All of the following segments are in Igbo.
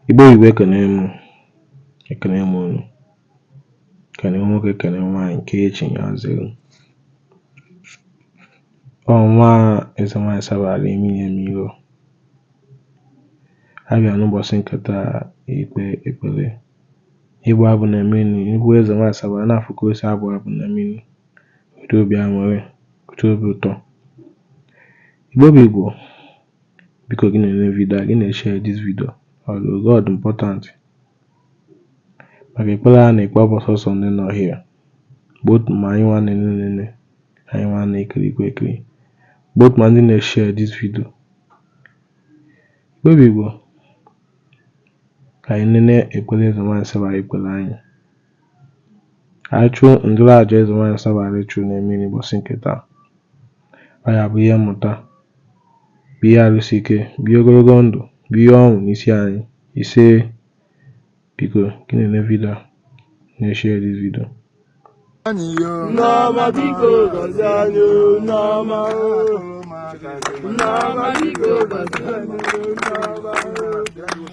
Igbo bụ Igbo ekene m ekene m unu kene nwoke kene nwaanyị nke echi ya zere ọnwa eze nwaanyị sabara imi ya mmiri a bịa n'ụbọchị nke taa ikpe ekpere ịbụ abụ na mmiri ikwu eze nwaanyị sabara na-afụ ka o si abụ abụ na mmiri otu obi aṅụrị otu obi ụtọ Igbo bụ Igbo biko gị na-enene vidio a gị na-eshare this video ọrụ God important maka ekpere a na-ekpe abụghị sọsọ ndị nọ here both ma anyị nwa na-enene anyị nwa na-ekiri ekiri both ma ndị na-eshare this video Igbo bụ Igbo ka anyị nene ekpere eze nwaanyị saba ekpere anyị Anyị chụọ ndụrụ aja eze nwaanyị Sabara chụrụ na mmiri ụbọchị nke taa. Ọ ya bụ ihe mmụta, bụ ihe arụsị ike, bụ ihe ogologo ndụ, bụ ihe ọṅụ n'isi anyị. Ise biko gị na-enene vidio a na-eshare this video. Nneọma biko gọzie anyị o, Nneọma o. Nneọma biko gọzie anyị o, Nneọma o.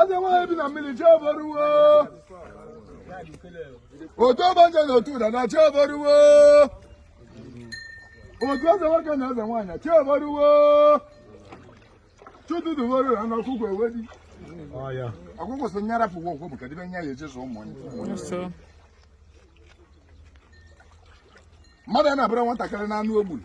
Eze nwaanyị bi na mmiri chi oboruwo. Otu ọgbanje na otu ụda na chi oboruwo. Otu eze nwoke na eze nwaanyị chi oboruwo. Chi ụtụtụ bọrọ na ọkụkọ ewedi. Ọkụkọ so nyara pụwa okwu bụ kedibe nya ya ejezu ụmụ ya. Mmadụ a na-abara nwatakịrị n'anụ o gburu.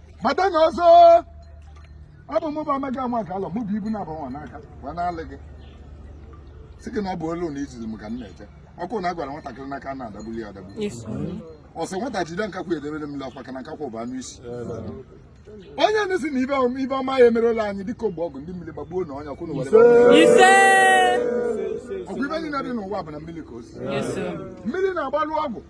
gbata na ọzọ ọ bụ mụ bụ amaghị ama ka alọ mụ bụ ibu na-aba nwa n'aka gwa na-alị gị si gị na ọ bụ olu na izizi m ka m na-eje ọkụ na agwara nwatakịrị n'aka a na-adagbuli ya adagbu ọ sị nwata jide nkakwu e debere mmiri ọ kwọ aka na nkakwu bụ anụ isi onye na-asị na ife ọm- ife ọma ya emerela anyị dịka ọ gba ọgwụ ndị mmiri gbagbuo na ọnya kwụ na were ọgwụ ife niile dị n'ụwa bụ na mmiri ka o si mmiri na-agbalụ ọgwụ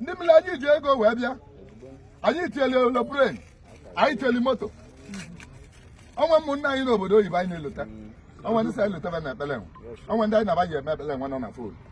ndị mmiri anyị ji ego wee bịa anyị chịlị aeroplane anyị chịlị moto o nwere ụmụnne anyị n'obodo oyibo anyị na-elota o nwere ndị sị anyị lota fa na ekpele nwe o nwere ndị anyị na-abaghị eme ekpele nwe nọ na fon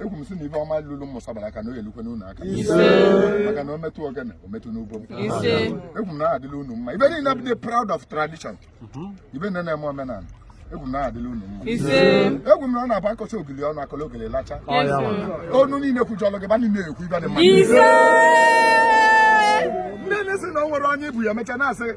ekwu m sị na ife ọma lụrụ m mụsabara aka na o yelukwe n'ụlọ aka maka na o metụ ogene o metụ n'ugbo m ekwu m na ọ dịla unu mma ibe niile bụ proud of tradition mhm. ibe niile na-eme omenala ekwu m na ọ dịla unu mma ekwu m na ọ na-abụ akọcha ogili ọnụ akọla ogili lacha ọnụ niile kwujọlụ gị ba niile ekwu ife dị mma ndị na-asị na o nwere onye ibu ya mecha na-asị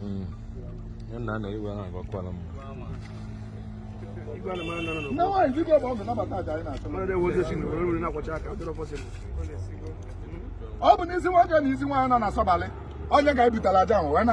hmm. ya na na iwe ahụ agwakwala m ọ bụ n'isi nwoke na isi nwaanyị nọ na sọbalị onye ga-ebutala aja ahụ wee na